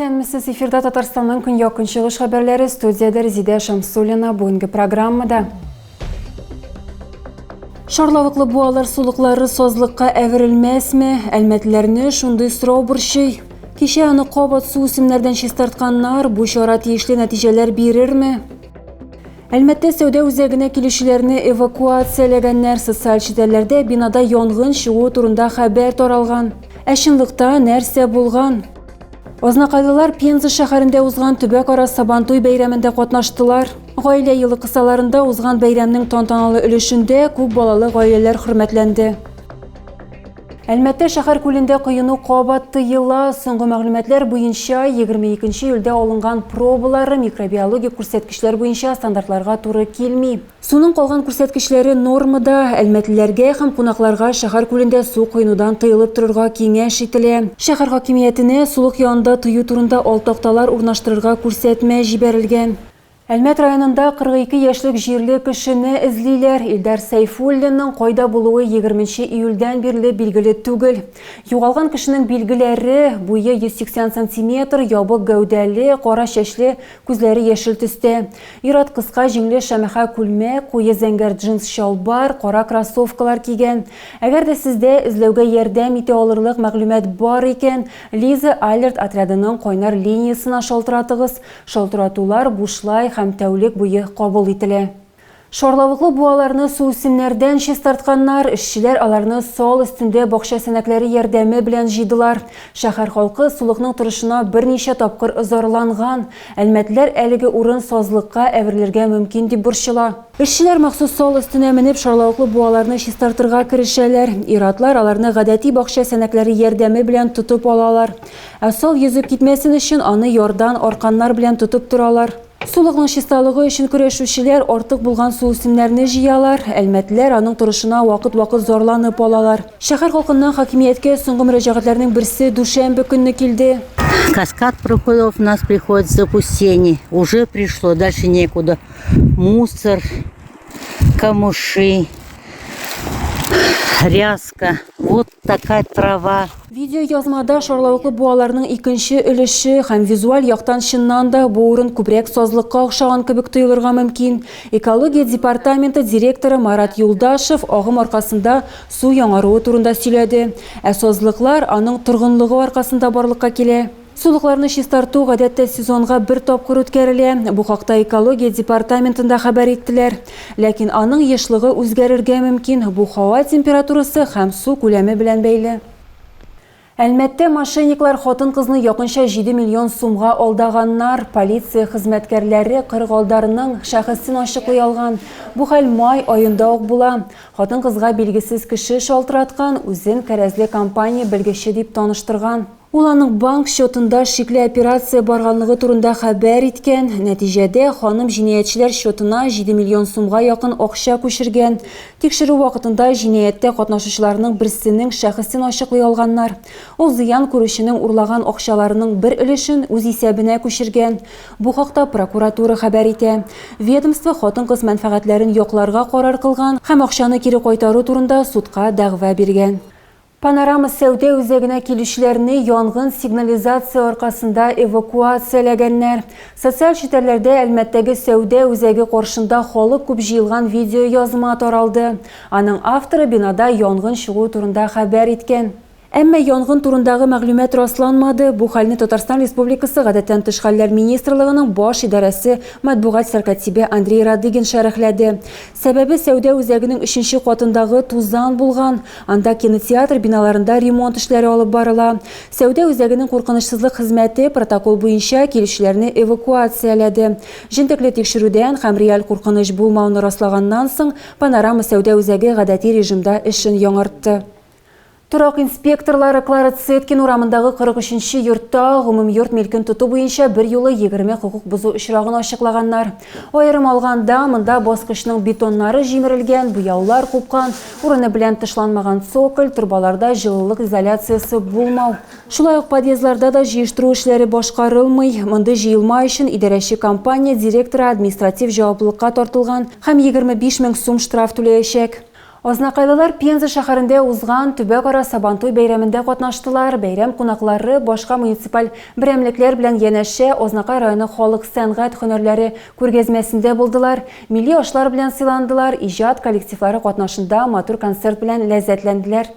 Исәнмесез, эфирда Татарстанның көньяк-көнчыгыш хәбәрләре, студиядә Резидә Шамсуллина. Бүгенге программада Шарлавыклы буалар сулыклары сазлыкка әверелмәсме? Әлмәтләрне шундый сорау борчый. Кичә аны кабат су үсемнәрдән чистартканнар, бу чара тиешле нәтиҗәләр бирерме? Әлмәттә сәүдә үзәгенә килүчеләрне эвакуацияләгәннәр, социаль челтәрләрдә бинада янгын чыгуы турында хәбәр таралган. Ә чынлыкта нәрсә булган? Азнакайлылар Пенза шәһәрендә узган төбәкара Сабантуй бәйрәмендә катнаштылар. Гаилә елы кысаларында узган бәйрәмнең тантаналы өлешендә күп балалы гаиләләр хөрмәтләнде. Әлмәттә шәһәр күлендә коену кабат тыела. Соңгы мәгълүматлар буенча, 22 июльдә алынган пробалары микробиологик күрсәткечләр буенча стандартларга туры килми. Суның калган күрсәткечләре нормада, әлмәтлеләргә һәм кунакларга шәһәр күлендә су коенудан тыелып торырга киңәш ителә. Шәһәр хакимиятенә сулык янында тыю турында ал такталар урнаштырырга күрсәтмә җибәрелгән. Әлмәт районында 42 яшьлек җирле кешене эзлиләр. Илдар Сәйфуллинның кайда булуы егерменче июльдән бирле билгеле түгел. Югалган кешенең билгеләре, буе 180 сантиметр, ябык гәүдәле, кара чәчле, Күзләре яшел төстә. Ир-ат кыска җиңле шәмәхә күлмәк, куе зәңгәр джинс чалбар, кара кроссовкалар кигән. Әгәр дә сездә эзләүгә ярдәм итә алырлык мәгълүмат бар икән, Лиза Алерт отрядының кайнар линиясенә шалтыратыгыз. Шалтыратулар бушлай һәм тәүлек буе кабул ителә. Шарлавыклы буаларны суүсемнәрдән чистартканнар, эшчеләр аларны сал өстендә бакча сәнәкләре ярдәме белән җыйдылар. Шәһәр халкы сулыкның торышына берничә тапкыр зарланган. Әлмәтлеләр әлеге урын сазлыкка әверелергә мөмкин дип борчыла. Эшчеләр махсус сал өстенә менеп шарлавыклы буаларны чистартырга керешәләр. Ир-атлар аларны гадәти бакча сәнәкләре ярдәме белән тотып алалар. Ә сал йөзеп китмәсен өчен аны ярдан арканнар белән тотып торалар. Сулыкның чисталыгы өчен көрәшүчеләр артык булган суүсемнәрне җыялар, әлмәтлеләр аның торышына вакыт-вакыт зарланып алалар. Шәһәр халкыннан хакимияткә соңгы мөрәҗәгатьләрнең берсе дүшәмбе көнне килде. Каскад проходов нас приходит в запустение. Уже пришло, дальше некуда. Мусор, камыши, ряска. Вот такая трава. Видеоязмада шарлавыклы буаларның икенче өлеше һәм визуаль яктан чыннан да бу урын күбрәк сазлыкка охшаган кебек тоелырга мөмкин. Экология департаменты директоры Марат Юлдашев агым аркасында су яңаруы турында сөйләде. Ә сазлыклар аның торгынлыгы аркасында барлыкка килә. Сулыкларны чистарту, гадәттә, сезонга бер тапкыр үткәрелә. Бу хакта экология департаментында хәбәр иттеләр. Ләкин аның ешлыгы үзгәрергә мөмкин, бу һава температурасы һәм су күләме белән бәйле. Әлмәттә мошенниклар хатын-кызны якынча җиде миллион сумга алдаганнар. Полиция хезмәткәрләре кырык алдарның шәхесен ачыклый алган. Бу хәл май аенда ук була. Хатын-кызга билгесез кеше шалтыраткан, үзен кәрәзле компания белгече дип таныштырган. Ул аның банк счетында шикле операция барганлыгы турында хәбәр иткән, нәтиҗәдә, ханым җинаятьчеләр счетына җиде миллион сумга якын акча күчергән. Тикшерү вакытында җинаятькә катнашучыларның берсенең шәхесен ачыклый алганнар. Ул зыян күрүченең урлаган акчаларының бер өлешен үз исәбенә күчергән. Бу хакта прокуратура хәбәр итә. Ведомство хатын-кыз мәнфәгатьләрен якларга карар кылган һәм акчаны кире кайтару турында судка дәгъва биргән. Панорама сәүдә үзәгенә килүчеләрне янгын сигнализация аркасында эвакуацияләгәннәр. Социаль челтәрләрдә Әлмәттәге сәүдә үзәге каршында халык күп җыелган видеоязма таралды. Аның авторы бинада янгын чыгуы турында хәбәр иткән. Әмма янгын турындагы мәгълүмат расланмады. Бу хәлне Татарстан Республикасы Гадәттән тыш хәлләр министрлыгының баш идарәсе матбугат сәркатибе Андрей Радыгин шәрехләде. Сәбәбе, сәүдә үзәгенең өченче катындагы тузан булган. Анда кинотеатр биналарында ремонт эшләре алып барыла. Сәүдә үзәгенең куркынычсызлык хезмәте протокол буенча килүчеләрне эвакуацияләде. Җентекле тикшерүдән һәм реаль куркыныч булмауны раслаганнан соң, Панорама сәүдә үзәге гадәти режимда эшен яңартты. Торак инспекторлары Клара Цеткин урамындагы 43 нче йортта гомумйорт милкен тоту буенча берьюлы 20 хокук бозу очрагын ачыклаганнар. Аерым алганда, монда баскычның бетоннары җимерелгән, буяулар купкан, урыны белән тышланмаган цоколь, торбаларда җылылык изоляциясе булмау, шулай ук подъездларда да җыештыру эшләре башкарылмый, мондый җыелма өчен идарәче компания директоры административ җаваплылыкка тартылган һәм 25 мең сум штраф түләячәк. Азнакайлылар Пенза шәһәрендә узган төбәкара Сабантуй бәйрәмендә катнаштылар. Бәйрәм кунаклары башка муниципаль берәмлекләр белән янәшә Азнакай районы халык сәнгать һөнәрләре күргәзмәсендә булдылар, милли ашлар белән сыйландылар, иҗат коллективлары катнашында матур концерт белән ләззәтләнделәр.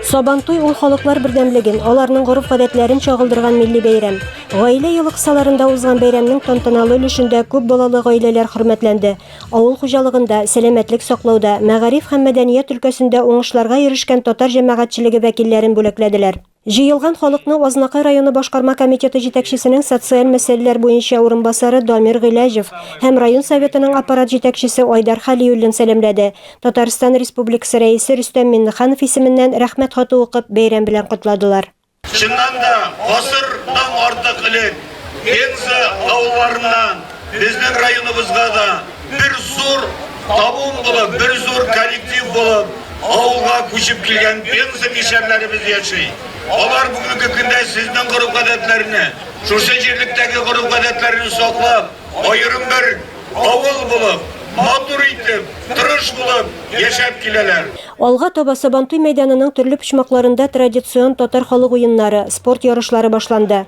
Сабантуй ул халыклар бердәмлеген, аларның гореф-гадәтләрен чагылдырган милли бәйрәм. Гаилә елы кысаларында узган бәйрәмнең тантаналы өлешендә күп балалы гаиләләр хөрмәтләнде. Авыл хуҗалыгында, сәламәтлек саклауда, мәгариф һәм мәдәният өлкәсендә уңышларга ирешкән татар җәмәгатьчелеге вәкилләрен бүләкләделәр. Җыелган халыкны Азнакай районы башкарма комитеты җитәкчесенең социаль мәсьәләләр буенча урынбасары Дамир Гыйләҗев һәм район Советының аппарат җитәкчесе Айдар Хәлиуллин сәламләде. Татарстан Республикасы Рәисе Рөстәм Миңнеханов исеменнән Рәхмәт хаты укып, бәйрәм белән котладылар. Чыннан да, гасырдан артык элек Пенза авылларыннан безнең районыбызга да бер зур табун булып, бер зур коллектив булып, авылга күчеп килгән Пенза мишәрләребез яши. Алар бүгенге көндә сезнең гореф-гадәтләрне, шушы җирлектәге гореф-гадәтләрне саклап, аерым бер авыл булып, матур итеп, тырыш булып яшәп киләләр. Алга таба Сабантуй мәйданының төрле почмакларында традицион татар халык уеннары, спорт ярышлары башланды.